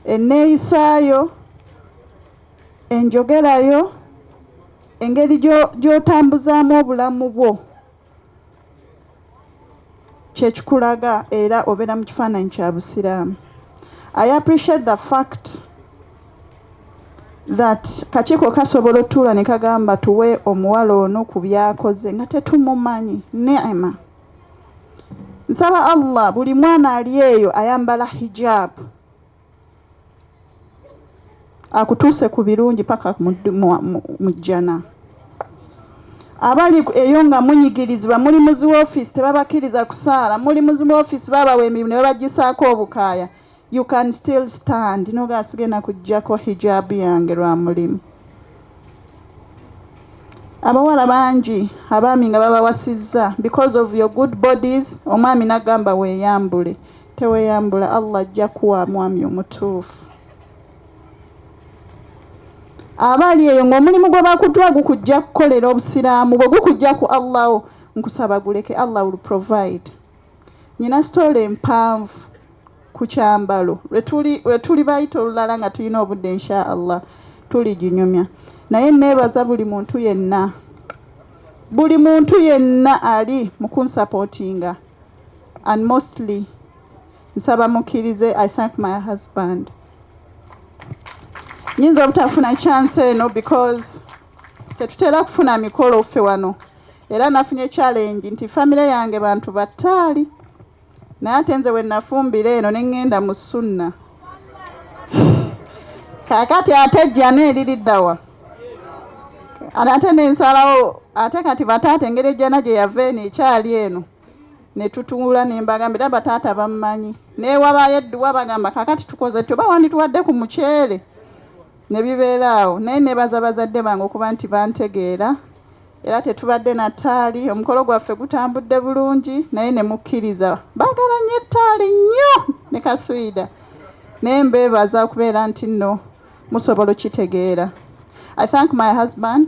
enneeyisa yo, enjogera yo, engeri gy'otambuzaamu obulamu bwo kyekikulaga era obeera mu kifaananyi kya busiraamu i appreciate the fact that kakiiko kasobola otuula ne kagamba tuwe omuwala ono ku byakoze nga tetumumanyi nema Nsaba Allah buli mwana ali eyo ayambala hijab akutuuse ku birungi paka mu jjana. Abali eyo nga munyigirizibwa muli muzi woofiisi tebabakiriza kusaala, muli muzi woofiisi babawa emirimu ne babagisaako obukaaya. You can still stand noga asigena kujjako hijab yange lwa mulimu abawala bangi abaami nga babawasizza because of your good bodies omwami nagamba weyambule teweyambula allah ajja kuwa mwami omutuufu abaali eyo ngaomulimu gwe bakutwa gukujja kukolera obusiraamu bwe gukujja ku allahu nkusaba guleke allah will provide Nyina story empanvu kukyambalo lwetuli lwetuli bayita olulala nga tulina obudde insha Allah tuliginyumya naye nebaza buli muntu yenna buli muntu yenna ali mukunsapotinga and mostly nsaba mukirize I thank my husband nyinza obutafuna chance eno because tetutera kufuna mikolo ffe wano era nafunye challenge nti famire yange bantu battaali naye ate nze we nafumbira eno ne ŋŋenda mu sunna kaakati ate jjana eririddawa ate nensalawo ate kati bataata engeri ejjana gye yava eno ekyali eno ne tutuula ne mbagambira bataata bammanyi newabayo edduwa bagamba kaakati tukoze tyo bawandituwadde ku muceere ne bibeera awo naye nebaza bazadde bange okuba nti bantegeera era tetubadde na ttaali omukolo gwaffe gutambudde bulungi naye ne mukkiriza baagala nnyo ettaali nnyo ne kaswida naye mbeebaza okubeera nti nno musobola okitegeera i thank my husband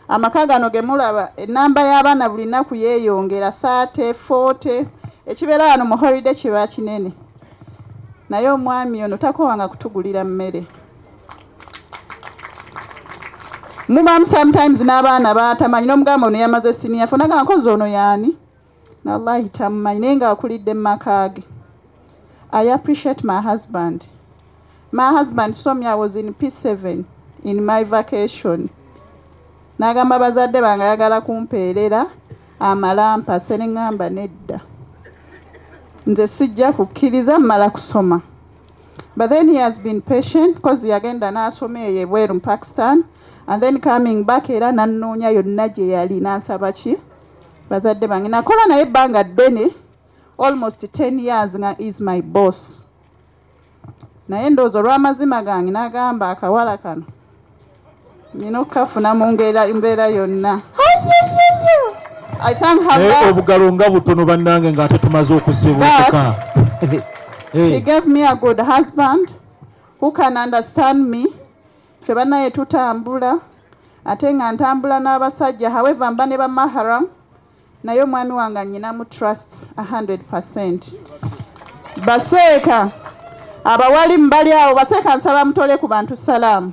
Amaka gano ge mulaba ennamba y'abaana buli nnaku yeeyongera thirty forty ekibeera wano mu holiday kiba kinene naye omwami ono takowanga kutugulira mmere mubamu sometimes n'abaana batamanyi n'omugamba ono yamaze siniya fo nagamba nkozi ono yaani Nallahi tamumanyi naye nga akulidde mumakaage. I appreciate my husband. My husband saw me I was in P7 in my vacation. Nagamba bazadde bange ayagala kumpeerera amalampa senengamba nedda. Nze sijja kukkiriza mmala kusoma. But then he has been patient because yagenda n'asoma eyo ebweru mu Pakistan and then coming back era nannoonya yonna gye yali n'ansaba ki bazadde bange nakola naye ebbanga ddene almost 10 years nga is my boss naye ndowooza olw'amazima gange n'agamba akawala kano nina okukafuna mu ngeri mbeera yonna naye obugalo nga butono bannange nga ate tumaze okusibuuka He gave me a good husband who can understand me Ffe banaye tutambula ate nga ntambula n'abasajja however mba ne bamahram naye omwami wange anyinamu trust 100%. Baseeka abawalimu bali awo baseeka nsaba mutole ku bantu salaamu.